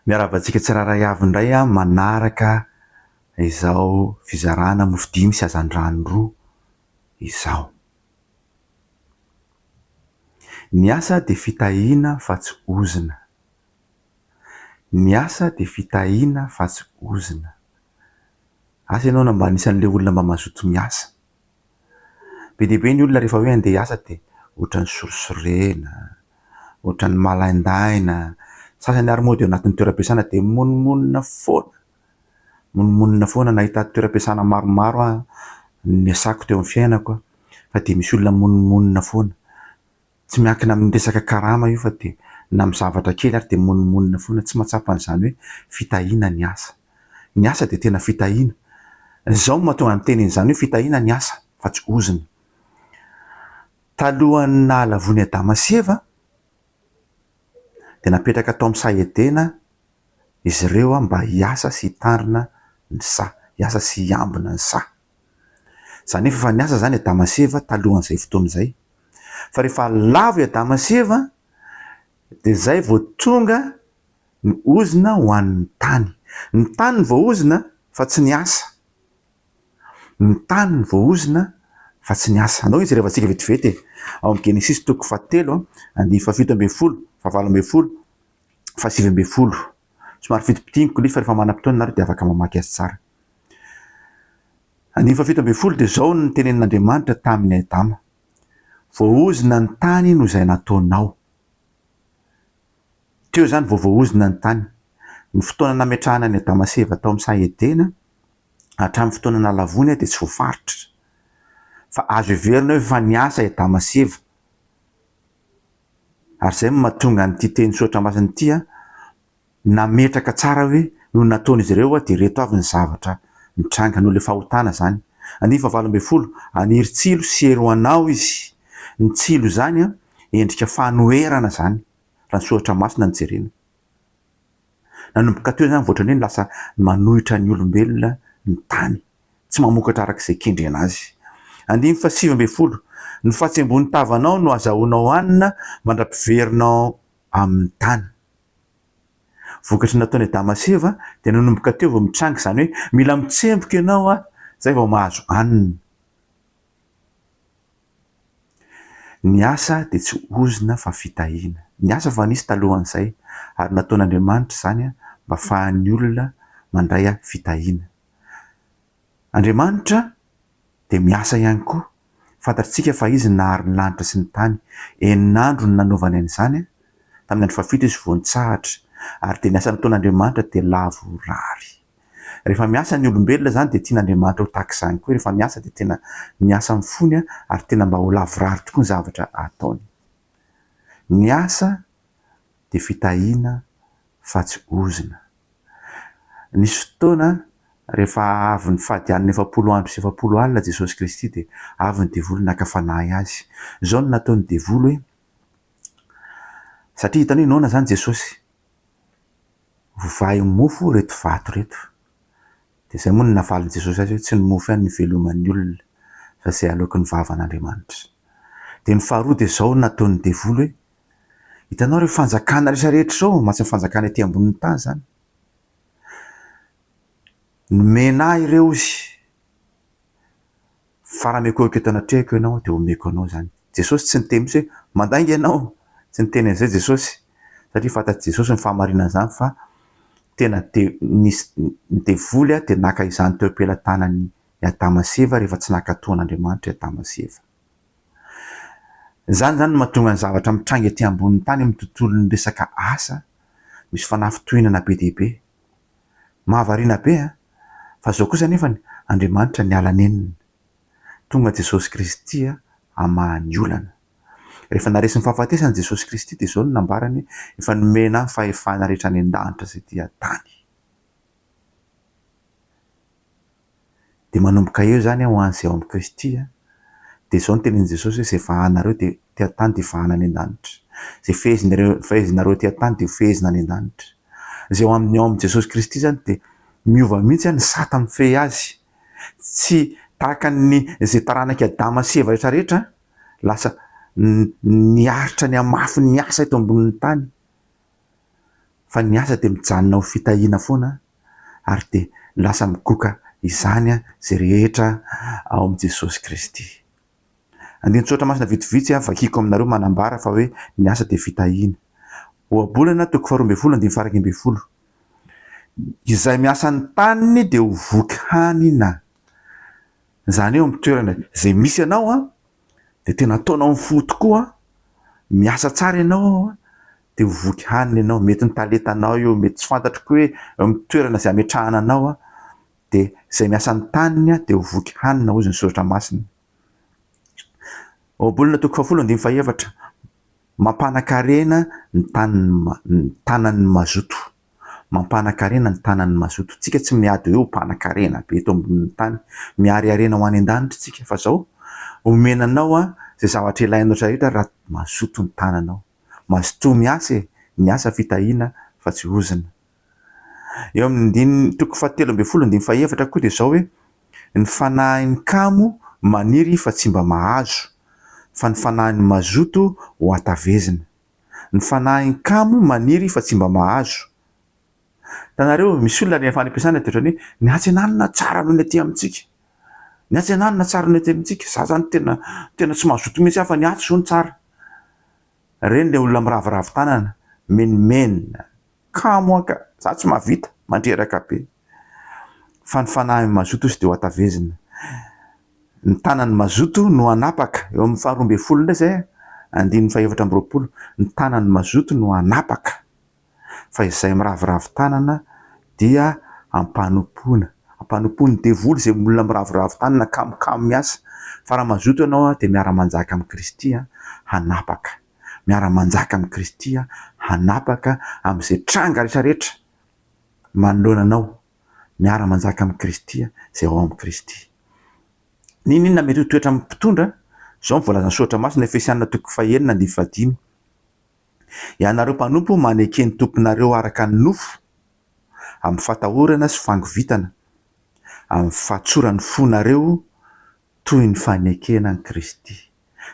Miarahaba antsika tsirairay avy indray aho manaraka izao fizarana mofo dimy sy hazandrano roa izao. Ny asa dia fitahiana fa tsy ozona. Ny asa dia fitahiana fa tsy ozona. Asa ianao na mba anisan'ilay olona mba mazoto miasa. Be dia be ny olona rehefa hoe handeha hiasa dia ohatran'ny sorisorena, ohatran'ny malaindaina, sasany ary moa dia ao anatin'ny toeram-piasana dia monimonina foana, monimonina foana. Nahita toeram-piasana maromaro aho niasako teo amin'ny fiainako fa dia misy olona monimonina foana. Tsy miankina amin'ny resaka karama io fa dia na amin'ny zavatra kely ary dia monomonona foana, tsy mahatsapa an'izany hoe fitahiana ny asa. Ny asa dia tena fitahiana. Izao no mahatonga ny teny an'izany hoe fitahiana ny asa fa tsy ozona. Talohan'ny nahalavoan'i Adama sy Eva dia napetraka tao amin'ny saha Edena izy ireo mba hiasa sy hitandrina ny saha, hiasa sy hiambina ny saha. Za nefa efa niasa zany Adama sy Eva talohan'izay fotoana izay. Fa rehefa lavo i Adama sy Eva dia zay vao tonga ny ozona ho an'ny tany. Ny tany no voaozona fa tsy ny asa. Ny tany no voaozona fa tsy ny asa. Andao izy rehavantsika vetivety e. Ao amin'ny Genesisy toko fahatelo andinin'ny fahafito ambin'ny folo, fahavalo ambin'ny folo, fahasivy ambin'ny folo. Somary fitipitihiniko nefa rehefa manam-potoana ianareo dia afaka mamaky azy tsara. Andininy fahafito ambin'ny folo dia izao no nitenenin'Andriamanitra tamin' i Adama, Voaozona ny tany no izay nataonao. Teo izany vao voaozona ny tany. Ny fotoana nametrahana an'i Adama sy Eva tao amin'ny saha Edena hatramin'ny fotoana nalavoina dia tsy voafaritra. Fa azo heverina hoe efa niasa i Adama sy Eva. Ary izay no mahatonga an'ity teny soratra masina ity, Nametraka tsara hoe no nataon'izy ireo hoe dia ireto avy ny zavatra nitranga noho ilay fahotana izany. Andinin'ny fahavalo ambin'ny folo, Haniry tsilo sy hery ho anao izy. Ny tsilo izany endrika fanoherana izany raha ny soratra masina no jerena. Nanomboka teo izany vao ohatran'ny hoe lasa manohitra ny olombelona ny tany, tsy mamokatra araka izay kendrena azy. Andininy fahasivy ambin'ny folo, Ny fahatsiamboan'ny tavanao no azahoanao hanina mandra-piverinao amin'ny tany. Vokatry ny nataon'i Adama sy Eva dia nanomboka teo vao mitranga izany hoe mila mitsemboka ianao an, izay vao mahazo hanina. Ny asa dia tsy ozona fa fitahiana. Ny asa efa nisy talohan'izay ary nataon'Andriamanitra izany mba afahan'ny olona mandray fitahiana. Andriamanitra dia miasa ihany koa. Fantatr'tsika fa Izy no nahary ny lanitra sy ny tany. Enina andro no nanaovany an'izany, tamin'ny andro fahafito Izy vao nitsahatra. Ary dia ny asa nataon'Andriamanitra dia lavorary. Rehefa miasa ny olombelona izany dia tian'Andriamanitra ho tahaka izany koa, rehefa miasa dia tena miasa amin'ny fony ary tena mba ho lavorary tokoa ny zavatra ataony. Ny asa dia fitahiana fa tsy ozona. Nisy fotoana rehefa avy nifady alina efapolo andro sy efapolo alina Jesosy Kristy dia avy ny devoly naka fanahy Azy. Izao no nataon'ny devoly hoe, satria hitany hoe noana izany Jesosy, vovahy ho mofo ireto vato ireto. Dia izay moa no navalin'i Jesosy azy hoe, tsy ny mofo ihany no iveloman'ny olona fa izay aloaky ny vavan'Andriamanitra. Dia ny faharoa dia izao no nataon'ny devoly hoe, Hitanao ireo fanjakana rehetra rehetra izao, mba tsy ny fanjakana ety ambonin'ny tany izany. Nomena ahy ireo izy, fa raha miekoekoka eto anatrehako ianao dia homeko anao izany. Jesosy tsy niteny mihitsy hoe, mandainga ianao, tsy niteny an'izay Jesosy, satria fantatr'i Jesosy ny fahamarinana izany fa tena te, nisy, ny devoly dia naka izany teo am-pelatanan'i Adama sy Eva rehefa tsy nankatò an'Andriamanitra i Adama sy Eva. Izany izany no mahatonga ny zavatra mitranga ety ambonin'ny tany amin'ny tontolon'ny resaka asa misy fanafintohinana be dia be. Mahavariana be an! Fa izao kosa anefany Andriamanitra niala nenina. Tonga Jesosy Kristy hamaha ny olana. Rehefa naresy ny fahafatesany Jesosy Kristy dia izao no nambarany, Efa nomena ahy ny fahefana rehetra any an-danitra sy ety an-tany. Dia manomboka eo izany ho an'izay ao amin'i Kristy. Dia izao no tenenin'i Jesosy hoe, izay vahanareo dia ety an-tany dia vahana any an-danitra. Izay fehezinareo fehezinareo ety an-tany dia ho fehezina any an-danitra. Izay ao amin'ny ao amin'i Jesosy Kristy izany dia miova mihitsy ny sata mifehy azy. Tsy tahaka ny izay taranak'i Adama sy Eva rehetra rehetra lasa niaritra nihamafy ny asa eto ambonin'ny tany. fa ny asa dia mijanona ho fitahiana foana ary dia lasa migoka izany izay rehetra ao amin'i Jesosy Kristy. Andinin-tsoratra masina vitsivitsy vakiko aminareo manambara fa hoe ny asa dia fitahiana. Ohabolana toko faharoa ambin'ny folo andininy faharaika ambin'ny folo. Izay miasa ny taniny dia ho voky hanina. Izany hoe eo amin'ny toerana izay misy anao dia tena ataonao ny fo tokoa, miasa tsara ianao dia ho voky hanina ianao, mety ny talentanao io, mety tsy fantatro koa hoe amin'ny toerana izay ametrahana anao dia izay miasa ny taniny dia ho voky hanina hozy ny soratra masina. Ohabolana toko fahafolo andininy fahaefatra, mampanakarena ny tanan'ny mazoto. Mampanakarena ny tanan'ny mazoto tsika tsy miady hoe ho mpanakarena be eto ambonin'ny tany miarearena ho any an-danitra tsika fa zao omena anao a zay zavatra ilainao rehetra raha mazoto ny tananao mazotoa miasa e ny asa fitahiana fa tsy ozona eo amin'ny ndininy toko fa telo ambin'ny folo ndininy fahefatra koa dia zao hoe ny fanahin'ny kamo maniry fa tsy mba mahazo fa ny fanahin'ny mazoto ho atavezina Ny fanahin kamo maniry fa tsy mba mahazo. Tanareo misy olona rehefa any ampiasana de otrany hoe ny hatsenanana tsara noho ny aty amintsika. Ny hatsenanana tsara noho ny aty amintsika. Za zany tena tena tsy mazoto mihitsy aho fa ny aty zao no tsara. Reny le olona miraviravy tanana. Menomenona. Kamo anka! Za tsy mahavita, mandreraka be. Fa ny fanahin'i Mazoto hozy dia hoatavezina. Ny tanan'i Mazoto no hanapaka, eo amin'ny faharoa ambin'ny folo indray izay, andininy fahefatra amby roapolo, ny tanan'i Mazoto no hanapaka, fa izay miraviravy tanana dia ampanompoana, ampanompoan'ny devoly izay olona miraviravy tanana, kamo kamo miasa, fa raha Mazoto ianao dia miara-manjaka amin'i Kristy, hanapaka. miara-manjaka amin'i Kristy aho, hanapaka amin'izay tranga rehetrarehetra manoloana anao, miara-manjaka amin'i Kristy aho, izay ao amin'i Kristy. N'inon'inona mety ho toetra amin'ny mpitondra, izao no voalazan'ny soratra masina, Efesiana toko fahenina andininy fahadimy, Ianareo mpanompo, maneke ny tomponareo araka ny nofo, amin'ny fatahorana sy fangovitana, amin'ny fahatsoran'ny fonareo, toy ny fanekena an'i Kristy.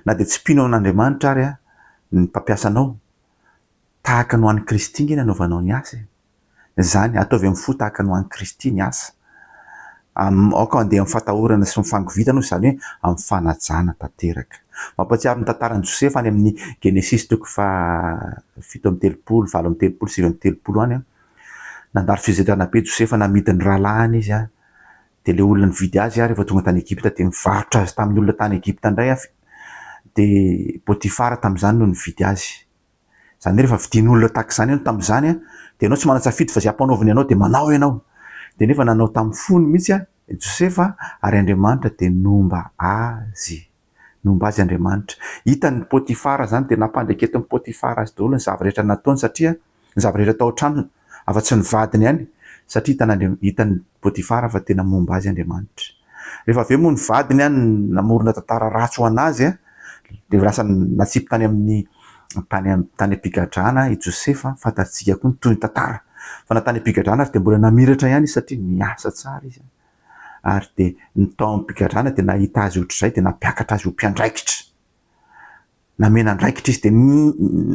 Na dia tsy mpino an' Andriamanitra ary ny mpampiasa anao, tahaka ny ho an'i Kristy ange ny anaovanao ny asa e! Izany, ataovy amin'ny fo tahaka ny ho an'i Kristy ny asa. Am, aoka handeha amin'ny fatahorana sy ny fangovitana, hoy izany hoe amin'ny fanajana tanteraka. Mampahatsiaro ny tantaran'i Josefa any amin'ny Genesisy toko faha fito amby telopolo, valo amby telopolo, sivy amby telopolo any an. Nandalo fizarana be Josefa namidy ny rahalahiny izy an, Dia ilay olona nividy azy aho rehefa tonga tany Egypta dia nivarotra azy tamin'ny olona tany Egypta indray aho, dia Potifara tamin'izany no nividy azy. Izany hoe rehefa vidin'olona tahaka izany ianao tamin'izany an, dia ianao tsy manan-tsafidy fa izay ampanaoviny anao dia manao ianao. Dia nefa nanao tamin'ny fony mihitsy i Josefa ary Andriamanitra dia nomba azy. Nomba azy Andriamanitra. Hitan'i Potifara izany dia nampandraiketin'i Potifara azy daholo ny zava-rehetra nataony satria ny zava-rehetra tao an-tranony afa-tsy ny vadiny ihany satria hitan'Andriam, hitan'i Potifara fa tena momba azy Andriamanitra. Rehefa avy eo moa ny vadiny an, namorona tantara ratsy ho an'azy an, dia lasa natsipy tany amin'ny, tany am, tany am-pigadrana i Josefa, fantatsika koa ny tohiny tantara. Fa na tany am-pigadrana aza dia mbola namiratra ihany izy satria niasa tsara izy an. ary dia ny tao amin'ny pigadrana dia nahita azy ohatr'izay dia nampiakatra azy ho mpiandraikitra. Namena andraikitra izy dia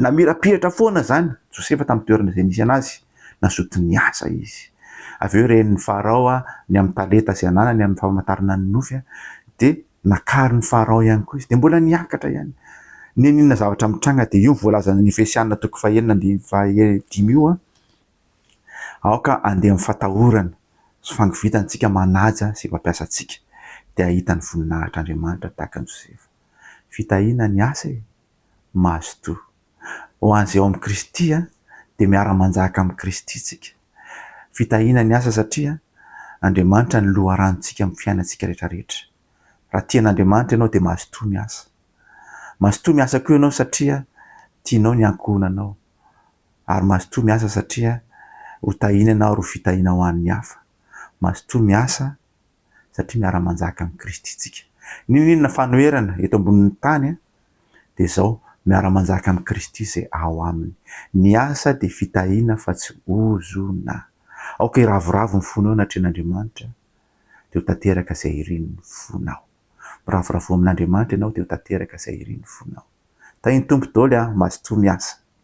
namirapiratra foana izany Josefa tamin'ny toerana izay nisy anazy, nazoto niasa izy. Avy eo ren'ny Farao ny amin'ny talenta izay ananany amin'ny famantarana ny nofy dia nakarin'i Farao ihany koa izy dia mbola niakatra ihany. N'inon'inona zavatra mitranga dia io voalazan'ny Efesiana toko fahenina ambin'ny fahadimy io. Aoka handeha amin'ny fatahorana sy fangovitana isika manaja sy mampiasa antsika, dia hahita ny voninahitr'Andriamanitra tahaka an'i Josefa. Fitahiana ny asa e! Mazotoa. Ho an'izay ao amin'i Kristy, dia miara-manjaka amin'i Kristy isika. Fitahiana ny asa satria Andriamanitra no loharanontsika amin'ny fiainantsika rehetrarehetra. Raha tia an'Andriamanitra ianao dia mazotoa miasa. Mazotoa miasa koa ianao satria tianao ny ankohonanao ary mazotoa miasa satria ho tahiana ianao ary ho fitahiana ho an'ny hafa. Mazotoa miasa satria miara-manjaka amin'i Kristy isika. N'inon'inona fanoherana eto ambonin'ny tany dia izao, miara-manjaka amin'i Kristy izay ao aminy. Ny asa dia fitahiana fa tsy ozona. Aoka hiravoravo ny fonao anatrehan'Andriamanitra dia ho tanteraka izay irin'ny fonao. Miravoravoa amin'Andriamanitra ianao dia ho tanteraka izay irin'ny fonao. Tahin'ny Tompo dôly a! Mazotoa miasa.